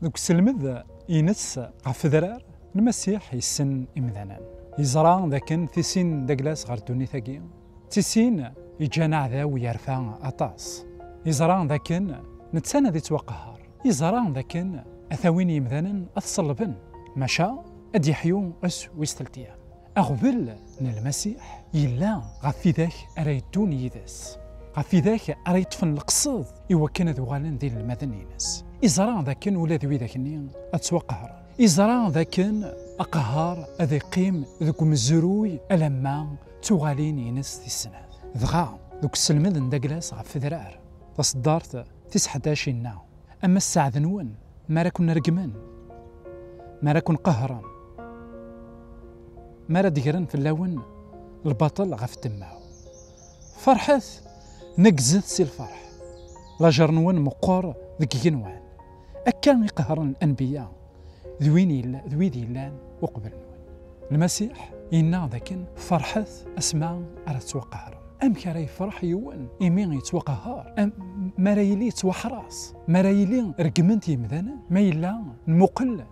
Deg uselmed ines ɣef fedrar n Masiḥ yessen imdanen. Yeẓra dakken tisin d aglas ɣer ddunit-agi. D tisin yeǧǧan aɛdaw yerfa aṭas. Yeẓra dakken netta ad yettwaqehher. Yeẓra dakken ad t-awin yimdanen ad t-ṣellben, maca ad d-yeḥyu ass wis teltya. Aɣbel n Lmasiḥ yella ɣef widak ara yeddun yid-s, ɣef widak ara yeṭṭfen leqsed i wakken ad uɣalen d inelmaden-ines. Iẓra d akken ula d widak-nni ad ttwaqehren. Iẓra d akken aqehher ad iqqim deg umezruy alamma d tuɣalin-ines tis snat. Dɣa, deg uselmed n Daglas ɣef wedrar, taṣeddart Tiseḥdac inna, Ama sseɛd-nwen, mi ara ken-regmen, mi ara ken-qehhren, mi ara d-gren fell-awen lbaṭel ɣef ddemma-w, ferḥet, neggzet si lferḥ, lajer-nwen meqqer deg yigenwan, akka i qehren anbiya, d win yella d wid yellan uqbel nwen. Lmasiḥ yenna dakken ferḥet asma ara tettwaqahrem. Amek ara yefreḥ yiwen imi yettwaqahar? Mi ara yili yettwaḥras, mi ara yili reggmen-t yimdanen, ma yella nmuqel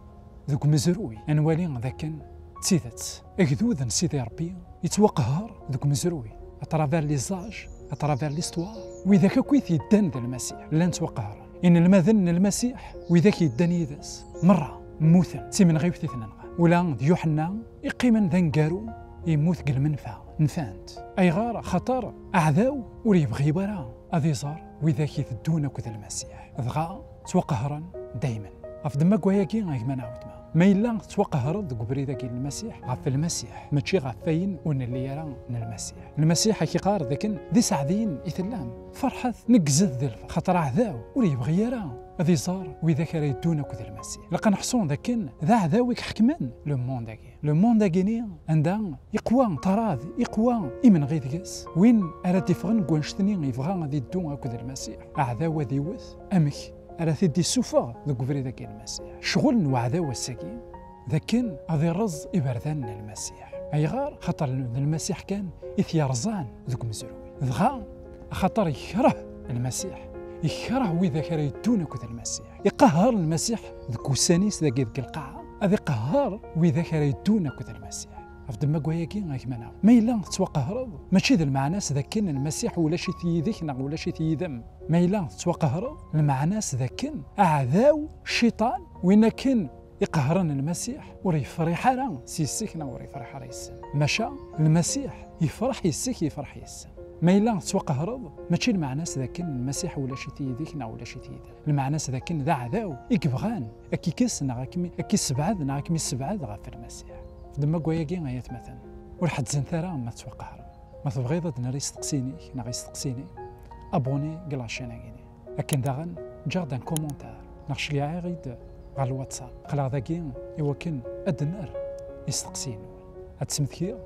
deg umezruy ad nwali dakken d tidet agdud n Sidi Rebbi yettwaqaher deg umezruy à travers les âges, à travers l'histoire, widak akk i t-yeddan d Lmasiḥ llan ttwaqahren. Inelmaden n Lmasiḥ, widak yeddan yid-s, merra mmuten d timenɣiwt i ten-nɣan. Ula d Yuḥenna, iqqimen d aneggaru, yemmut deg lmenfa. Nfan-t. Ayɣer? Axaṭer aɛdaw ur yebɣi ara ad iẓer widak iteddun akked Lmasiḥ, dɣa ttwaqehhren daymen. Ɣef ddemma n wayagi, a gma neɣ weltma, ma yella tettwaqehreḍ deg ubrid-agi n Lmasiḥ, ɣef Lmasiḥ, mačči ɣef wayen ur nelli ara n Lmasiḥ. Lmasiḥ a k-iqqar dakken d iseɛdiyen i tellam. Ferḥet, neggzet di lferḥ, xaṭer aɛdaw ur yebɣi ara ad iẓer widak ara yeddun akked Lmasiḥ. Ilaq ad neḥṣu d akken d aɛdaw i iḥekmen lemond-agi. Lemond-agi-ni anda iqwa ṭṭrad, iqwa imenɣi deg-s, win ara d-iffɣen deg wannect-nni yebɣa ad yeddu akked Lmasiḥ, aɛdaw ad iwwet. Amek ara t-id-issufeɣ deg ubrid-agi n Lmasiḥ? Ccɣel n uɛdaw ass-agi. d akken ad ireẓ iberdan n Lmasiḥ. Ayɣer? Xaṭer d Lmasiḥ kan i t-yerẓan deg umezruy. Dɣa axaṭer yekreh Lmasiḥ, yekreh widak ara yeddun akked Lmasiḥ. Iqehher Lmasiḥ deg wussan-is dagi deg lqaɛa, ad iqehher widak ara yeddun akked Lmasiḥ. Ɣef ddemma gwayagi a gma-neɣ, ma yella tettwaqehreḍ, mačči d lmeɛna-s d akken Lmasiḥ ulac-it yid-k neɣ ulac-it yid-m. Ma yella tettwaqehreḍ, lmeɛna-s d akken aɛdaw, Cciṭan, win akken, iqehren lmasiḥ ur yefriḥ ara s yis-k neɣ ur yefriḥ ara yes-sen maca lmasiḥ yefreḥ yes-k yefreḥ yes-sen ma yella tettwaqehreḍ mačči lmeɛna-s d akken lmasiḥ ulac-it yid-k neɣ ulac-it yid-m lmeɛna-s d akken d aɛdaw i yebɣan ad k-ikkes neɣ ad k-issebɛed neɣ ad kem-issebɛed ɣef lmasiḥ xdem akk ayagi ay atmaten ur ḥezzent ara ma tettwaqehren ma tebɣiḍ ad d-nerr isteqsiyen-ik neɣ isteqsiyen-ik abonné deg lacin-agi Akken daɣen ǧǧaɣ-d un commentaire neɣ cliɛeɣ-id ɣer lwatsap. Qleɣ dagi i wakken ad d-nerr isteqsiyen-nwen. Ad d-smektiɣ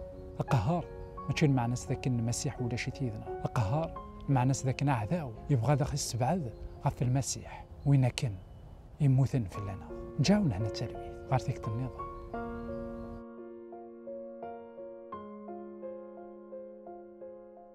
aqehhar mačči lmeɛna-s d akken Lmasiḥ ulac-it yid-neɣ. Aqehhar lmeɛna-s d akken aɛdaw yebɣa ad aɣ-issebɛed ɣef Lmasiḥ, win akken yemmuten fell-aneɣ. Ǧǧaɣ nehna d talwit ɣer tikti nniḍen.